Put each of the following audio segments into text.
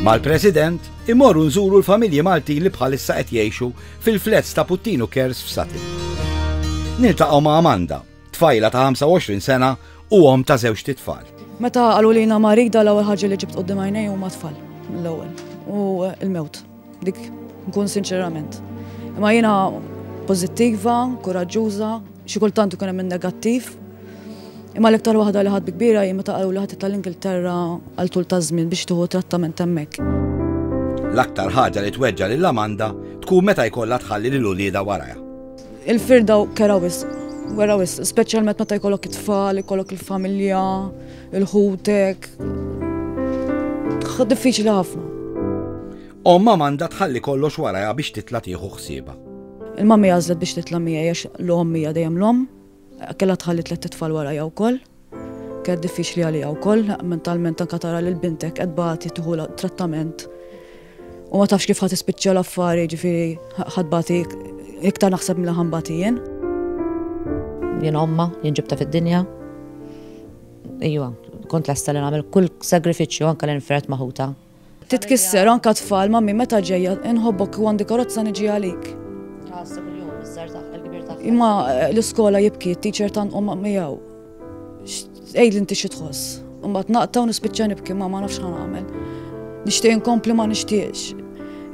Mal-President imorru nżuru l-familji Maltin li bħalissa qed jgħixu fil-flets ta' Puttinu Kers f'Satin. Niltaqgħu ma' Amanda, tfajla ta' 25 sena u om ta' żewġ titfal. Meta qalu li jina marida l-ewwel ħaġa li ġibt qudiem għajnej huma tfal l-ewwel u l-mewt. Dik nkun sinċerament. Imma jiena pożittiva, kuraġġuża, xi kultant ikun hemm negattiv. Imma l-iktar waħda li ħadd kbira jien meta qalu li ħadd tal-Ingilterra għal tul ta' żmien biex tieħu trattament hemmhekk. L-aktar ħaġa li tweġġa' lil Amanda tkun meta jkollha tħalli lil uliedha warajha. Il-firda kera wisq, wera wisq, speċjalment meta jkollok it-tfal, ikollok il-familja, Il-ħutek. Diffiċli ħafna. Omma manda tħalli kollox warajha biex titla tieħu ħsieba. Il-mammi għażlet biex titla miegħi għax l-omm hija dejjem l-omm. Kellha tħalli tlet titfal warajha wkoll. Kien diffiċli għalija wkoll mentalment anka tara lil bintek qed bagħti tieħu trattament U ma tafx kif ħat ispiċċa l-affari, ġifiri ħadbati iktar naħseb mill ħambati jien. Jien omma, jien ġibta fid-dinja. Ejwa, kont lesta li nagħmel kull sagrifiċċju anke li nfret maħuta. Titkisser anka tfal ma' minn meta ġejja inħobbok u għandi karozza niġi għalik. Imma eh, l-iskola jibki, t-teacher tanqom miegħu. Ejd inti xi tħoss. Imbagħad naqta' u nispiċċa nibki ma ma nafx ħan għamel. Nixtieq inkompli ma nixtieqx.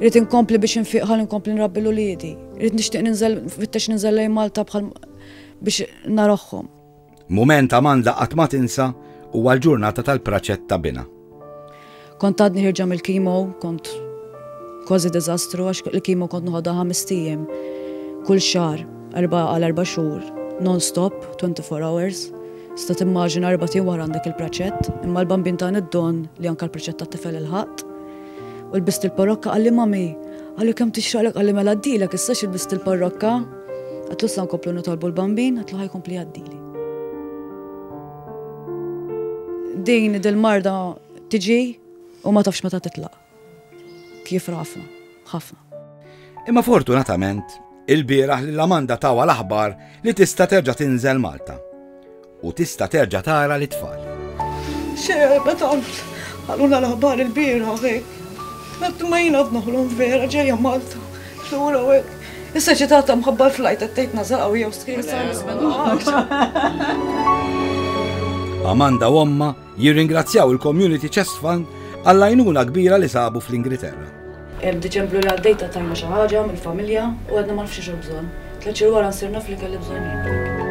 Rrid inkompli biex infiq ħalli nkompli nrabbi l-uliedi. Rrid nixtieq ninżel fittex ninżel lejn Malta bħal biex narahom. Mument Amanda qatt ma tinsa huwa l-ġurnata tal-praċett ta' binha. Kont għadni ħirġa mill-kimo, kont kważi diżastru għax il-kimo kont noħodha ħames ijiem kull xahar, erba' għal erba' xhur, non-stop, 24 hours. Sta timmaġina erba' ijiem wara għandek il-praċett, imma l-bambin tani d-don li anke l-praċett tat-tifel ilħaqt. U lbist il-parrokka qalli mami, qalli kemm tixraqlek qalli mela għaddilek issa xi lbist il-parrokka. Għedtlu sa nkomplu nitolbu l-bambin, għedtlu ħa jkompli jgħaddili. Din dil-marda tiġi u ma tafx meta titlaq. Kif rafna, ħafna. Imma fortunatament, ilbieraħ lil Amanda tawha l-aħbar li tista' terġa' tinżel Malta u tista' terġa' tara lit-tfal. X'erba tant qalulna l-aħbar ilbieraħ hekk. Qatt ma jien għad noħlom vera ġejja Malta lura u hekk. Is-soċjetà ta' mħabba l-flajt qed tgħid naża' qawwija u stħin Amanda u ommha jirringrazzjaw il-Community Chest Fund għall-għajnuna kbira li sabu fl-Ingilterra. F'Diċembru li għaddej tajna xi ħaġa mill-familja u għadna ma nafx xi bżonn. Tliet xhur wara nsir naf li kelli bżonn jien.